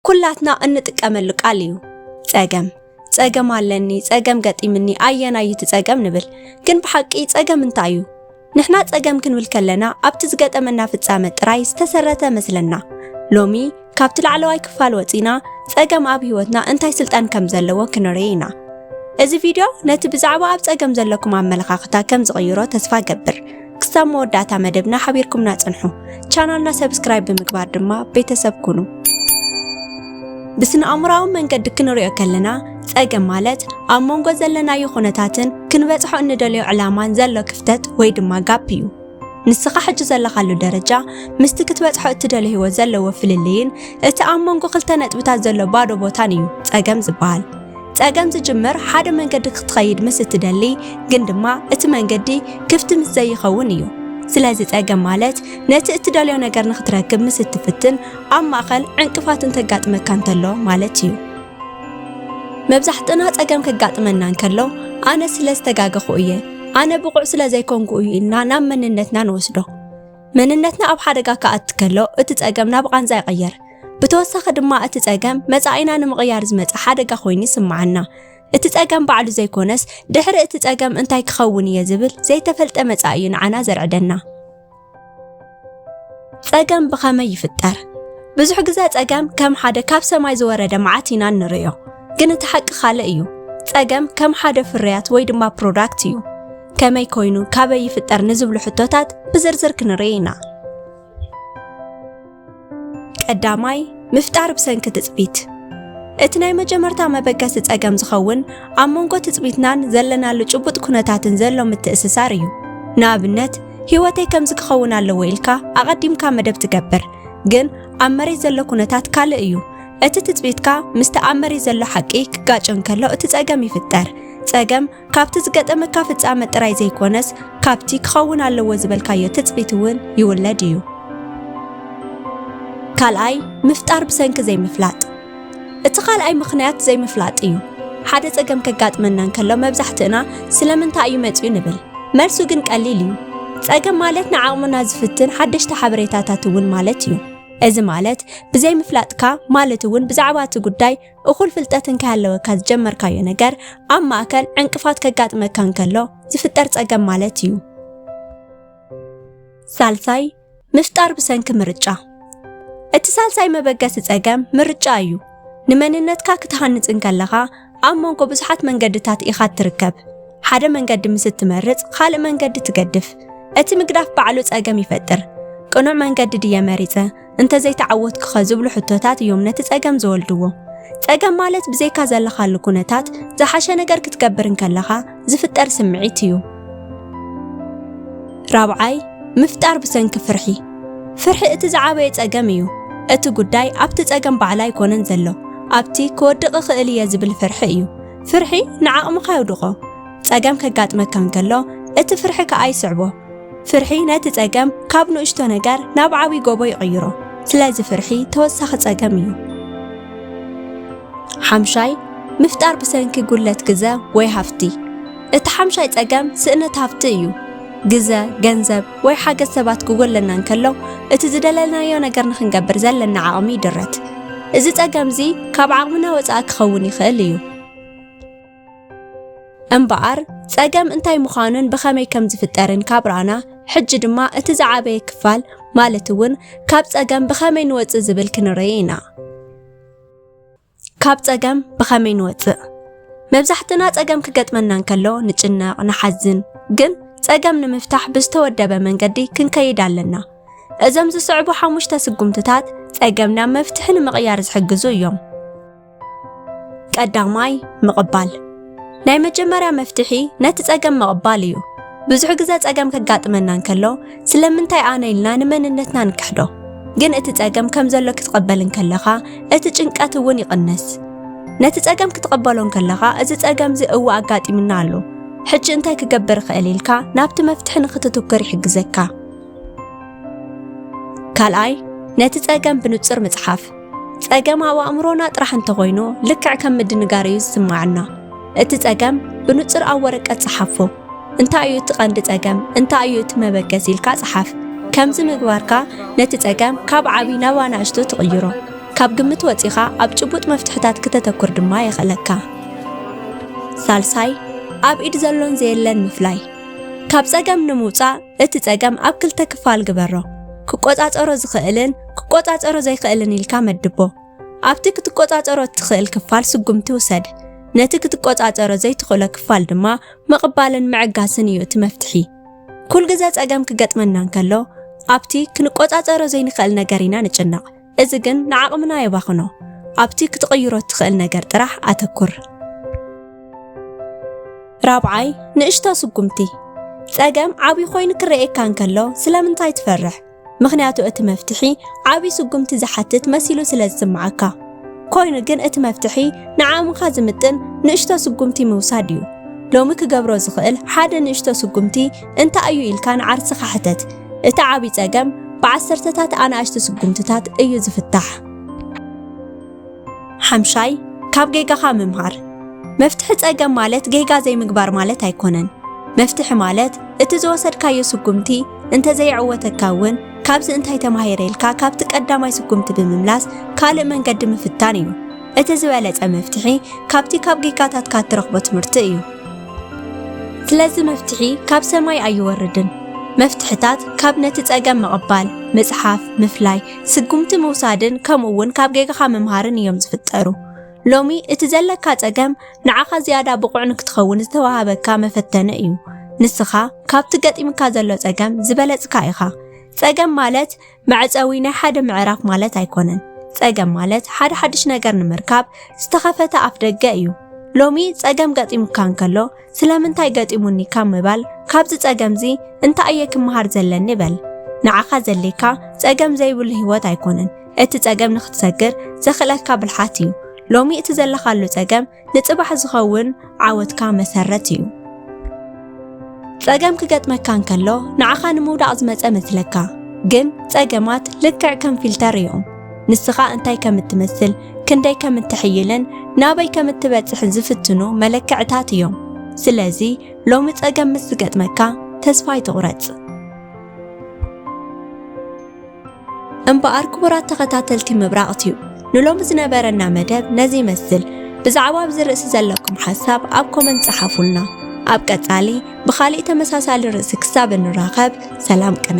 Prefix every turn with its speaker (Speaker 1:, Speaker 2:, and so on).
Speaker 1: ኩላትና እንጥቀመሉ ቃል እዩ ጸገም ጸገም ኣለኒ ጸገም ገጢምኒ ኣየናይ እዩ እቲ ጸገም ንብል ግን ብሓቂ ጸገም እንታይ እዩ ንሕና ጸገም ክንብል ከለና ኣብቲ ዝገጠመና ፍጻመ ጥራይ ዝተሰረተ መስለና ሎሚ ካብቲ ላዕለዋይ ክፋል ወጺና ጸገም ኣብ ህይወትና እንታይ ስልጣን ከም ዘለዎ ክንርኢ ኢና እዚ ቪድዮ ነቲ ብዛዕባ ኣብ ጸገም ዘለኩም ኣመለኻኽታ ከም ዝቕይሮ ተስፋ ገብር ክሳብ መወዳእታ መደብና ሓቢርኩምና ጽንሑ። ቻናልና ሰብስክራይብ ብምግባር ድማ ቤተሰብ ኩኑ። ብስነ ኣእምሮኣዊ መንገዲ ክንሪኦ ከለና ጸገም ማለት ኣብ መንጎ ዘለናዮ ኩነታትን ክንበጽሖ እንደልዮ ዕላማን ዘሎ ክፍተት ወይ ድማ ጋፕ እዩ። ንስኻ ሕጂ ዘለኻሉ ደረጃ ምስቲ ክትበጽሖ እትደልዮ ህይወት ዘለዎ ፍልልይን እቲ ኣብ መንጎ ክልተ ነጥብታት ዘሎ ባዶ ቦታን እዩ ጸገም ዝበሃል። ጸገም ዝጅምር ሓደ መንገዲ ክትኸይድ ምስ እትደሊ ግን ድማ እቲ መንገዲ ክፍቲ ምስ ዘይኸውን እዩ። ስለዚ ጸገም ማለት ነቲ እትደልዮ ነገር ንኽትረክብ ምስ እትፍትን ኣብ ማእከል ዕንቅፋት እንተጋጥመካ እንተሎ ማለት እዩ። መብዛሕትና ጸገም ከጋጥመና እንከሎ ኣነ ስለ ዝተጋገኹ እየ፣ ኣነ ብቑዕ ስለ ዘይኮንኩ እዩ ኢልና ናብ መንነትና ንወስዶ። መንነትና ኣብ ሓደጋ ክኣቲ ከሎ እቲ ጸገም ናብ ቓንዛ ይቕየር። ብተወሳኺ ድማ እቲ ጸገም መጻኢና ንምቕያር ዝመጸ ሓደጋ ኮይኑ ይስምዓና። እቲ ጸገም ባዕሉ ዘይኮነስ ድሕሪ እቲ ጸገም እንታይ ክኸውን እየ ዝብል ዘይተፈልጠ መጻኢ እዩ ንዓና ዘርዕደና። ጸገም ብኸመይ ይፍጠር? ብዙሕ ግዘ ጸገም ከም ሓደ ካብ ሰማይ ዝወረደ መዓት ኢና እንርእዮ፣ ግን እቲ ሓቂ ካልእ እዩ። ጸገም ከም ሓደ ፍርያት ወይ ድማ ፕሮዳክት እዩ። ከመይ ኮይኑ ካበይ ይፍጠር ንዝብሉ ሕቶታት ብዝርዝር ክንርኢ ኢና። ቀዳማይ ምፍጣር ብሰንኪ ትጽቢት እቲ ናይ መጀመርታ መበገሲ ጸገም ዝኸውን ኣብ መንጎ ትጽቢትናን ዘለናሉ ጭቡጥ ኩነታትን ዘሎ ምትእስሳር እዩ። ንኣብነት ህይወተይ ከምዚ ክኸውን ኣለዎ ኢልካ ኣቐዲምካ መደብ ትገብር፣ ግን ኣብ መሬት ዘሎ ኩነታት ካልእ እዩ። እቲ ትጽቢትካ ምስቲ ኣብ መሬት ዘሎ ሓቂ ክጋጮ እንከሎ እቲ ጸገም ይፍጠር። ጸገም ካብቲ ዝገጠመካ ፍጻመ ጥራይ ዘይኮነስ ካብቲ ክኸውን ኣለዎ ዝበልካዮ ትጽቢት እውን ይውለድ እዩ። ካልኣይ፣ ምፍጣር ብሰንኪ ዘይምፍላጥ። እቲ ካልኣይ ምኽንያት ዘይምፍላጥ እዩ። ሓደ ጸገም ከጋጥመና እንከሎ መብዛሕትእና ስለምንታይ እዩ መጺኡ ንብል። መልሱ ግን ቀሊል እዩ። ጸገም ማለት ንዓቕምና ዝፍትን ሓደሽቲ ሓበሬታታት እውን ማለት እዩ። እዚ ማለት ብዘይምፍላጥካ ማለት እውን ብዛዕባ እቲ ጉዳይ እኹል ፍልጠት እንከይሃለወካ ዝጀመርካዮ ነገር ኣብ ማእከል ዕንቅፋት ከጋጥመካ እንከሎ ዝፍጠር ጸገም ማለት እዩ። ሳልሳይ ምፍጣር ብሰንኪ ምርጫ እቲ ሳልሳይ መበገሲ ጸገም ምርጫ እዩ። ንመንነትካ ክትሃንጽ እንከለኻ ኣብ መንጎ ብዙሓት መንገድታት ኢኻ እትርከብ። ሓደ መንገዲ ምስ እትመርጽ ካልእ መንገዲ ትገድፍ። እቲ ምግዳፍ ባዕሉ ጸገም ይፈጥር። ቅኑዕ መንገዲ ድየ መሪጸ? እንተዘይተዓወትኩኸ ዝብሉ ሕቶታት እዮም ነቲ ጸገም ዝወልድዎ። ጸገም ማለት ብዘይካ ዘለኻሉ ኩነታት ዝሓሸ ነገር ክትገብር እንከለኻ ዝፍጠር ስምዒት እዩ። ራብዓይ ምፍጣር ብሰንኪ ፍርሒ ፍርሒ እቲ ዝዓበየ ጸገም እዩ። እቲ ጉዳይ ኣብቲ ጸገም ባዕላ ኣይኮነን ዘሎ ኣብቲ ክወድቕ እኽእል እየ ዝብል ፍርሒ እዩ። ፍርሒ ንዓቕምኻ የውድቖ። ጸገም ከጋጥመካ እንከሎ እቲ ፍርሒ ከኣ ይስዕቦ። ፍርሒ ነቲ ጸገም ካብ ንእሽቶ ነገር ናብ ዓብይ ጎቦ ይቕይሮ። ስለዚ ፍርሒ ተወሳኺ ጸገም እዩ። ሓምሻይ፣ ምፍጣር ብሰንኪ ጉድለት ግዘ ወይ ሃፍቲ። እቲ ሓምሻይ ጸገም ስእነት ሃፍቲ እዩ። ግዘ፣ ገንዘብ፣ ወይ ሓገዝ ሰባት ክጎለና እንከሎ እቲ ዝደለናዮ ነገር ንክንገብር ዘለና ዓቕሚ ይድረት። እዚ ጸገም እዚ ካብ ዓቕምና ወጻኢ ክኸውን ይኽእል እዩ። እምበኣር ጸገም እንታይ ምዃኑን ብኸመይ ከም ዝፍጠርን ካብ ረኣና፣ ሕጂ ድማ እቲ ዝዓበየ ክፋል ማለት እውን ካብ ጸገም ብኸመይ ንወጽእ ዝብል ክንርኢ ኢና። ካብ ጸገም ብኸመይ ንወጽእ? መብዛሕትና ጸገም ክገጥመና እንከሎ ንጭነቕ፣ ንሓዝን። ግን ጸገም ንምፍታሕ ብዝተወደበ መንገዲ ክንከይድ ኣለና። እዞም ዝስዕቡ ሓሙሽተ ስጉምትታት ጸገም ናብ መፍትሒ ንምቕያር ዝሕግዙ እዮም። ቀዳማይ ምቕባል ናይ መጀመርያ መፍትሒ ነቲ ጸገም ምቕባል እዩ። ብዙሕ ግዘ ጸገም ከጋጥመና እንከሎ ስለምንታይ ኣነ ኢልና ንመንነትና ንክሕዶ። ግን እቲ ጸገም ከም ዘሎ ክትቐበል እንከለኻ እቲ ጭንቀት እውን ይቕንስ። ነቲ ጸገም ክትቐበሎ እንከለኻ እዚ ጸገም እዚ እወ ኣጋጢምና ኣሎ ሕጂ እንታይ ክገብር እኽእል ኢልካ ናብቲ መፍትሒ ንክትትኩር ይሕግዘካ። ካልኣይ ነቲ ጸገም ብንጹር ምጽሓፍ ጸገም ኣብ ኣእምሮና ጥራሕ እንተኾይኑ ልክዕ ከም ምድንጋር እዩ ዝስማዓና። እቲ ጸገም ብንጹር ኣብ ወረቀት ጸሓፎ። እንታይ እዩ እቲ ቀንዲ ጸገም? እንታይ እዩ እቲ መበገሲ ኢልካ ጸሓፍ። ከምዚ ምግባርካ ነቲ ጸገም ካብ ዓቢ ናብ ኣናእሽቱ ትቕይሮ። ካብ ግምት ወጺኻ ኣብ ጭቡጥ መፍትሕታት ክተተኩር ድማ የኽእለካ። ሳልሳይ፣ ኣብ ኢድ ዘሎን ዘየለን ምፍላይ። ካብ ጸገም ንምውጻእ እቲ ጸገም ኣብ ክልተ ክፋል ግበሮ። ክቆጻጸሮ ዝኽእልን ክቆጻጸሮ ዘይክእልን ኢልካ መድቦ። ኣብቲ ክትቆጻጸሮ እትኽእል ክፋል ስጉምቲ ውሰድ። ነቲ ክትቆጻጸሮ ዘይትኽእሎ ክፋል ድማ ምቕባልን ምዕጋስን እዩ እቲ መፍትሒ። ኩል ግዘ ጸገም ክገጥመና እንከሎ ኣብቲ ክንቆጻጸሮ ዘይንኽእል ነገር ኢና ንጭነቕ። እዚ ግን ንዓቕምና የባኽኖ። ኣብቲ ክትቕይሮ እትኽእል ነገር ጥራሕ ኣተኩር። ራብዓይ ንእሽቶ ስጉምቲ። ጸገም ዓብዪ ኮይኑ ክረኤካ እንከሎ ስለምንታይ ትፈርሕ? ምኽንያቱ እቲ መፍትሒ ዓቢ ስጉምቲ ዝሓትት መሲሉ ስለ ዝስምዓካ። ኮይኑ ግን እቲ መፍትሒ ንዓቕምኻ ዝምጥን ንእሽቶ ስጉምቲ ምውሳድ እዩ። ሎሚ ክገብሮ ዝኽእል ሓደ ንእሽቶ ስጉምቲ እንታይ እዩ ኢልካ ንዓርስኻ ሕተት። እቲ ዓቢ ጸገም ብዓሰርተታት ኣናእሽቲ ስጉምትታት እዩ ዝፍታሕ። ሓምሻይ፣ ካብ ጌጋኻ ምምሃር። መፍትሒ ጸገም ማለት ጌጋ ዘይምግባር ማለት ኣይኮነን። መፍትሒ ማለት እቲ ዝወሰድካዮ ስጉምቲ እንተዘይዕወተካ እውን ካብዚ እንታይ ተማሂረ ኢልካ ካብቲ ቀዳማይ ስጉምቲ ብምምላስ ካልእ መንገዲ ምፍታን እዩ እቲ ዝበለጸ መፍትሒ ካብቲ ካብ ጌጋታትካ እትረኽቦ ትምህርቲ እዩ ስለዚ መፍትሒ ካብ ሰማይ ኣይወርድን መፍትሕታት ካብ ነቲ ጸገም ምቕባል ምጽሓፍ ምፍላይ ስጉምቲ ምውሳድን ከምኡ እውን ካብ ጌጋኻ ምምሃርን እዮም ዝፍጠሩ ሎሚ እቲ ዘለካ ጸገም ንዓኻ ዝያዳ ብቑዕ ንክትኸውን ዝተዋሃበካ መፈተነ እዩ። ንስኻ ካብቲ ገጢምካ ዘሎ ጸገም ዝበለጽካ ኢኻ። ጸገም ማለት መዕጸዊ ናይ ሓደ ምዕራፍ ማለት ኣይኮነን። ጸገም ማለት ሓደ ሓድሽ ነገር ንምርካብ ዝተኸፈተ ኣፍ ደገ እዩ። ሎሚ ጸገም ገጢሙካ እንከሎ ስለምንታይ ገጢሙኒ ካብ ምባል ካብዚ ጸገምዚ እንታይ እየ ክመሃር ዘለኒ በል። ንዓኻ ዘድልየካ ጸገም ዘይብሉ ህይወት ኣይኮነን፣ እቲ ጸገም ንኽትሰግር ዘኽእለካ ብልሓት እዩ። ሎሚ እቲ ዘለኻሉ ጸገም ንጽባሕ ዝኸውን ዓወትካ መሰረት እዩ። ጸገም ክገጥመካ እንከሎ ንዓኻ ንምውዳቕ ዝመጸ መስለካ፣ ግን ጸገማት ልክዕ ከም ፊልተር እዮም። ንስኻ እንታይ ከም እትመስል፣ ክንደይ ከም እትሕይልን ናበይ ከም እትበጽሕን ዝፍትኑ መለክዕታት እዮም። ስለዚ ሎሚ ጸገም ምስ ዝገጥመካ ተስፋ ኣይትቑረጽ። እምበኣር ክቡራት ተኸታተልቲ ምብራቕ ቲዩብ ንሎሚ ዝነበረና መደብ ነዚ ይመስል። ብዛዕባ ኣብዚ ርእሲ ዘለኩም ሓሳብ ኣብ ኮመንት ጸሓፉልና። ኣብ ቀጻሊ ብኻሊእ ተመሳሳሊ ርእሲ ክሳብ እንራኸብ ሰላም ቅነ።